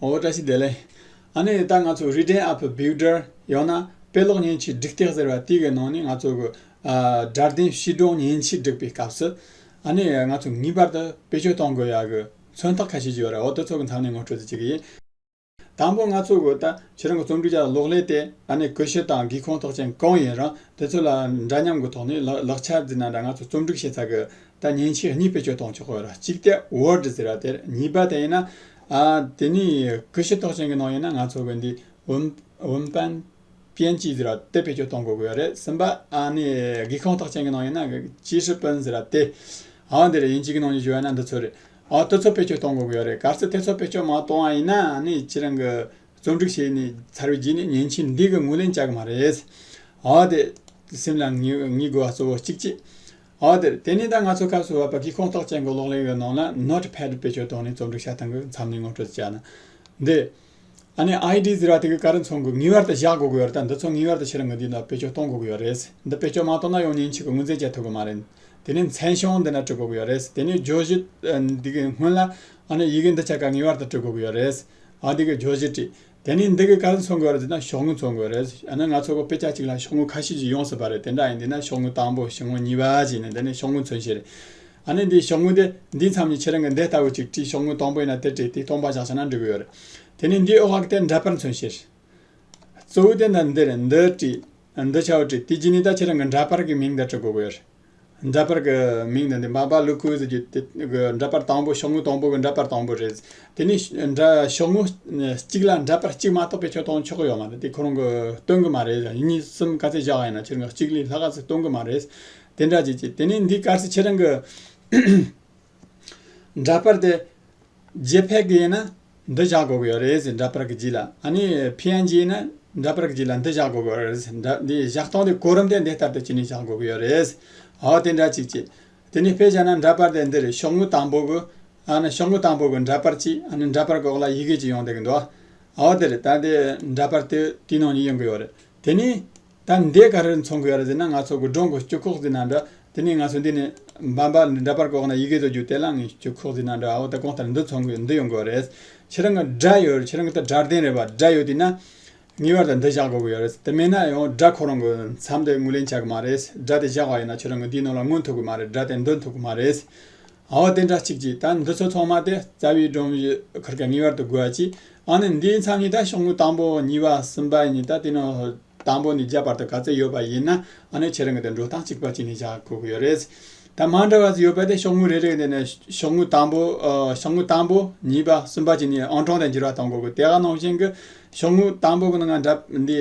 འོ་བཀྲ་ཤིས་བདེ་ལེགས། ཨ་ནེ་ད་ང་ཚོ Written Up Builder ཡང་ན་དཔེ་ཀློག་བརྙན་ཆས་སྒྲིག་སྟེགས་ཟེར་བ་དེ་གའི་ནང་ནས་ང་ཚོ་གི་སྒྲ་ལྡན་ཤིས་སྒྲོན་བརྙན་ཆས་སྒྲིག་པའི་སྐབས་སུ་ཨ་ནེ་ང་ཚོ་ངེས་པར་དུ་དཔེ་སྤྱོད་གཏོང་དགོས་ཡ་གི་མཚོན་རྟགས་ཁ་ཤས་ཡོད་རེད་འོ་དེ་ཚོ་གི་མཚམས་ནས་ངོ་སྤྲོད་དུ་བྱེད་ཀྱི་ཡིན། དང་པོ་ང་ཚོ་གི་ད་ཁྱེད་རང་གི་རྩོམ་སྒྲིག་བྱ་བ་གློག་ཀླད་དེ་ཨ་ནེ་གུས་ཤྲི་དང་སྒེའུ་ཁུང་ཐོག་ཅན་གང་ཡིན་རང་དེ་ཚོ་ལ་འདྲ་མཉམ་གི་ཐོག་ནས་ལག་ཆ་འདི་ན་འདྲ་ང་ཚོ་རྩོམ་སྒྲིག་བྱེད་ཚ་གི་ད་བརྙན་ཆས་གཉིས་དཔེ་སྤྱོད་གཏོང་ཆོག་གི་རེད་གཅིག་དེ Word ཟེར་བ་དེར་གཉིས་པ་དེ་ཡིན་ན་དེ་ནི་གུས་ཤེས་རྟོགས་ཅན་གྱི་ནང་ཡིན་ན་ང་ཚོ་གི་འདི་འོན་ཏན། པན་ཅི་ཟེར་བ་དེ་བེད་སྤྱོད་གཏོང་དགོས་ཀྱི་རེད་སེམས་པ། ནི་སྒེའུ་ཁུང་རྟོགས་ཅན་གྱི་ནང་ཡིན་ན་ཅི་ཧྲི་པན་ཟེར་བ་དེ། འདི་རེད་ཡིན་གཅིག་གི་ནང་ནས་བརྗོད་ན་འདི་ཚོ་རེད། དེ་ཚོ་བེད་སྤྱོད་གཏོང་དགོས་ཀྱི་རེད་གལ་སྲིད་དེ་ཚོ་བེད་སྤྱོད་མ་གཏོང་བ་ཡིན་ན་ནི་ཁྱེད་རང་གི་རྩོམ་སྒྲིག་བྱས་ནས་ཚར་བའི་རྗེས་ནས་ཉན་ཆེ་འདི་གི་ངོས་ལེན་བྱ་གི་མ་རེད། དེ་སེམས་ལ་ངེས་དགོས་པ་གཙོ་བོ་གཅིག་གཅིག། འོག་དེར། དེ་ནས་ད་ང་ཚོ་སྐབས་སུ་བབ་པ་དཀྱིལ་ཁོངས་ཐོག་བཅད་འགོ་ལོག་ལེན་ཡོད་ནང་ལ Note Pad བེད་སྤྱོད་གཏོང་ནས་རྩོམ་སྒྲིག་བྱ་སྟངས་ཀྱི་མཚམས་ནས་ངོ་སྤྲོད་བྱས་ན། འདི། ཨ་ནི ID ཟེར་བ་དེ་གི་ཀ་རི་མཚོ་འགུག་ངེས་བར་དུ་བཞག་དགོ་གི་ཡོད་རེད་ད་འདི་ཚོ་ངེས་བར་དུ་ཕྱི་ར་ངོས་འདིའི་ནང་བེད་སྤྱོད་གཏོང་དགོ་གི་ཡོད་རེད། འདི་བེད་སྤྱོད་མ་གཏོང་ན་ཡང་ཉིན་གཅིག་གི་དངུལ་རྫས་བཅད་ཐུབ་གི་མ་རེད། དེ་ནས་མཚན་གཞུང་འདི་འདྲ་བྲི་དགོ་གི་ཡོད་རེད། དེ་ནས་བརྗོད་གཞི། འདི་གི་སྔོན་ལ། ཨ་ནི་ཡི་གེ་འདི་ཆ་ག་ངེས་བར་དུ་བྲི་དགོ་གི་ཡོད་རེད། ཨ་འདི་གི་བརྗོད་གཞི་བྲིས། དེ་ནི་འདི་གི་ག་ལ་འཚོ་དགོས་རེད་འདི་ན་ཤོག་ངོས་འཚོ་དགོས་རེད་ཡང་ན་ང་ཚོ་གོ་དཔེ་ཆ་གཅིག་ལ་ཤོག་ངོས་ཁ་ཤས་ཀྱིས་ཡོངས་སུ་བར་རེད་དེ་འདྲ་ཡིན་འདི་ན་ཤོག་ངོས་དང་པོ་བཞི་ངོས་གཉིས་པ་ཅིག་ཡིན་ན་དེ་ནི་ཤོག་ངོས་མཚོན་བྱེད་རེད་ཨ་ནི་འདི་ཤོག་ངོས་དེ་འདིའི་མཚམས་ནས་ཁྱེད་རང་གི་འདི་ལྟ་བུ་ཅིག་བྲིས་ཤོག་ངོས་དང་པོ་ཡིན་ན་དེ་བྲིས་དེ་སྟོང་པ་བཞག་བྱས་ན་འགྲིག་གི་ཡོད་རེད་དེ་ནི་འདིའི་ཨོ་ཧཀ་དེ་འདྲ་པར་མཚོན་བྱེད་རེད། གཙོ་བོ་དེ་འདི་འདི་རེད་འདི་བྲིས་འདི་ཆ་བོ་བྲིས་དེ་རྗེས་ནས་ད་ཁྱེད་རང་གི་འདྲ་པར་གི་མིང་འདི་བྲི་དགོས་གི་ཡོད་རེད། འདྲ་པར་གྱི་མིང་ནི་འདི་འབའ་འབའ་ལུ་ཀུའུ་ཟེར་རྒྱུ་དེ་འདྲ་པར་དང་པོ་ཤོག་ངོས་དང་པོ་གི་འདྲ་པར་དང་པོ་རེད། དེ་ནི་ཤོག་ངོས་གཅིག་ལ་འདྲ་པར་གཅིག་མ་གཏོགས་པའི་ཆོག་དང་ཆོག་གི་ཡོད་མ་རེད་དེ་ཁོ་རང་གི་སྟོན་གི་མ་རེད་གཉིས་གསུམ་ག་ཚད་བཞག་ཡིན་ན་ཆེར་འགག་གཅིག་ལས་ལྷག་ག་ཚོད་སྟོན་གི་མ་རེད། དེ་འདྲ་བྱེད་ཀྱི། དེ་ནི་འདི་སྐར་ཚེ་ཁྱེད་རང་གི། འདྲ་པར་དེ་རྗེ་ཕལ་གྱི་ཡིན་ན་འདི་བཞག་དགོས་ཀྱི་ཡོད་རེད་ཟེར་འདྲ་པར་གྱི་རྗེས་ལ་ནི PNG ཡིན་ན་འདྲ་པར་གྱི་རྗེས་ལ་འདི་བཞག་དགོས་ཀྱི་ཡོད་རེད་ཟེར་འདྲ་འདི་བཞག་སྟངས་དེ་གོ་རིམ་དེ་འདི་ལྟར་དུ་བྱས་ནས་བཞག་དགོས་ཀྱི་ཡོད་རེད་ཟེར་དེ་འདྲ་ཅིག་བྱེད་དེ་ནས་དཔེ་བྱས་ན་འདྲ་པར་དེ་འདི་རེད་ཤོག་ངོས་དང་པོ་གི་ཤོག་ངོས་དང་པོ་གི་འདྲ་པར་གཅིག་འདྲ་པར་གྱི་འོག་ལ་ཡི་གེ་གཅིག་ཡོང་བསྡད་ཀྱི་འདུག་དེ་རེད་ད་དེ་འདྲ་པར་དེ་དེའི་ནང་ཡོང་གི་ཡོད་རེད་དེ་ནས། ད་འདས་ག་རེར་འཚོང་གི་ཡོད་རེད་ཟེར་ན་ང་ཚོ་དགོད་སྒྲོན་གྱི་སྤྱི་ཁོག་ཟིན་ན་འདྲ། དེ་ནས་ང་ཚོ་འདི་ནས་འབའ་འབའ་འདྲ་པར་བཀོག་ན་ཡི་གེ་ཚོ་རྒྱུག་དེ་ལ་ངའི་སྤྱི་ཁོག་ཟིན་ན་འདྲ་ཨོ་ད་གོང་ལྟར་འདི་འཚོང་གི་ཡོད་འདི་ཡོང་གི་ཡོད་རེད། ཁྱེད་རང་གི་སྒྲ་ཡོད་རེད་ཁྱེད་རང་གི་ད་སྒྲར་ལྡན་རེད་པ་སྒྲ་ཡོད་དུས་ན། ངེས་པར་དུ་འདི་བཞག་དགོས་གི་ཡོད་རེད་དེ་མེད་ན་ཡང་སྒྲ་ཁོ་རང་གི་མཚམས་དེ་ངོས་ལེན་བྱ་གི་མ་རེད། སྒྲ་དེ་བཞག་པ་ཡིན་ན་ཁྱེད་རང་གི་འདིའི་ནང་ལ་ངོ་འཐུག་གི་མ་རེད་སྒྲ་དེ་འདི་འཐུག་གི་མ་རེད། ཨོ་དེ་འདྲ་ཅིག་ཅིག་ད་འདི་ཚོ་ཚང་མ་དེ་རྩ་བའི་སྒྲོམ་གཞི་ཁུར་མཁན་ངེས་པར་དུ་དགོས་ཀྱི་ཨ་ནི་འདིའི་མཚམས་གཉིས་ད་ཤོག་ངོས་དང་པོ་གཉིས་པ་གསུམ་པ་གཉིས་ད་དེ་ནི་དང་པོ་ནས་བརྒྱད་བར་དུ་ག་ཚོད་ཡོད་པ་ཡིན་ན་ཨ་ནི་ཁྱེད་རང་གི་དེ་འགྲོ་སྟངས་གཅིག་པ་གཅིག་ནས་བཞག་དགོས་ཀྱི་ཡོད་རེད། ད་མ་འདྲ་བ་ཡོད་པ་དེ་ཤོག་ངོས་རེ་རེ་ནས་ཤོག་ངོས་དང་པོ་ཤོག་ངོས་དང་པོ་གཉིས་པ་གསུམ་པ་གཅིག་ནས་ཨང་གྲངས་དེ་འགྱུར་བ་གཏོང་དགོས་ཀྱི་དེ་ག་ནང་བཞིན་གྱི་ཤོག་ངོས་དང་པོ་གི་ནང་འདྲ་འདི་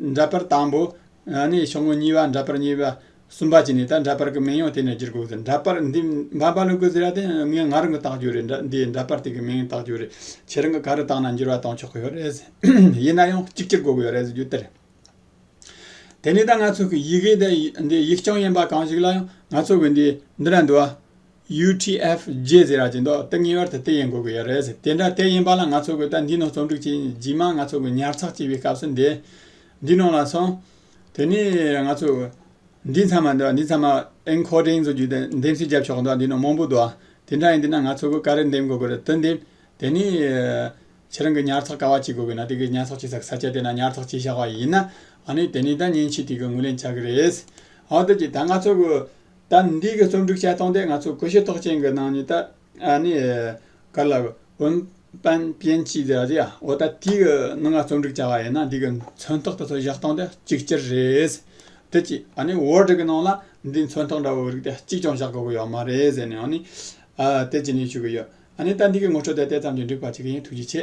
འདྲ་པར་དང་པོ་ནི་ཕྱོགས་ངོས་གཉིས་པ་འདྲ་པར་གཉིས་པ་གསུམ་པ་བཅས་ནས་ད་འདྲ་པར་གྱི་མིང་ཡང་དེ་ནས་བསྒྱུར་དགོས་ཟེར་འདྲ་པར་འདི་འབའ་འབའ་ལུག་གི་ཟེར་ཡ་དེ་ངས་ང་རང་གིས་བཏགས་རྒྱུ་རེད་འདྲ་འདི་འདྲ་པར་དེ་གི་མིང་བཏགས་རྒྱུ་རེད་ཁྱེད་རང་གིས་ག་རེ་བཏགས་ན་འགྱུར་བ་གཏོང་ཆོག་གི་ཡོད་རེད་ཟེར་ཡིན་ན་ཡང་གཅིག་གྱུར་དགོས་གི་ཡོད་རེད་ཟེར་རྒྱུ་དེ་རེད། དེ་ནས་ད་ང་ཚོ་གི་ཡི་གེ་འདི་ཡིག་རྐྱང་ཡིན་པ་གང་ཞིག་ལ་ཡང་ང་ཚོ་གི་འདི་འདི་འདྲ་འདུག་ཨ། UTF རྗེས་ཟེར་ར་ཇེ་མདོག་སྟབས་ངེས་པར་དུ་དེ་ཡིན་དགོས་ཀྱི་ཡོད་རེད་དེ་འདྲ་དེ་ཡིན་པ་ལ་ང་ཚོ་གོས་དར་འདིའི་ནང་རྩོམ་སྒྲིག་བྱེད་རྗེས་མ་ང་ཚོ་གོས་ཉར་ཚགས་བྱེད་པའི་སྐབས་སུ་འདི་འདི་ནང་ལ་སོང། དེ་ནས་ང་ཚོ་འདི་ཚང་མ་འདི་ཚང་མ Encoding ཟེར་རྒྱུ་དེ་འདེམས་གསེས་བརྒྱབ་ཆོག་འདི་ནང་མང་པོ་འདུག་དེ་འདྲ་ཡིན་དུས་ན་ང་ཚོ་གོས་ག་རེ་འདེམས་དགོས་ཀྱི་རེད་དེ་འདེམས། དེ་ནས་ཁྱེད་རང་གིས་ཉར་ཚགས་ག་བ་བྱེད་དགོས་ཀྱི་ན་དེ་གིས་ཉར་ཚགས་བྱེད་ས་གི་ས་ཆ་དེ་ན་ཉར་ཚགས་བྱས་བཞག་པ་ཡིན། ཨ་ནི་དེ་ནས་ད་ཉིན་ཕྱེད་དེ་གིས་ངོས་ལེན་བྱ་གི་རེད། ཨོ་དེ་ཀྱི་ད་ང་ཚོ་གོས། ད་ནི་འདི་གི་རྩོམ་སྒྲིག་ཆ་སྟོང་དེ་ང་ཚོ་གོ་ཤེས་རྟོགས་ཅན་གྱི་ནང་ནས་ད་ནི་ག་ལ་འོན། པན་པིན་ཅི་ཟེར་བ་དེ་ཡང་འོ་ད་དེ་གི་ནང་ང་རྩོམ་སྒྲིག་བྱ་བ་ཡིན་ན་འདི་གི་མཚོན་རྟགས་དེ་ཚོ་བཞག་སྟངས་དེ་གཅིག་གྱུར་རེད། དེ་གཅིག་ཨ་ནི Word གི་ནང་ལ་འདིའི་མཚོན་རྟགས་འདྲ་བོ་རིགས་དེ་གཅིག་ཀྱང་བཞག་དགོས་ཀྱི་ཡོད་མ་རེད་ཟེར་ནས་ཨ་ནི། དེ་བྱས་ནས་ཞུ་གི་ཡོད། ཨ་ནི་ད་འདི་གི་ངོ་སྤྲོད་དེ་དེ་ཙམ་གྱིས་འགྲིག་པ་ཅིག་ཡིན་ཐུགས་རྗེ་ཆེ།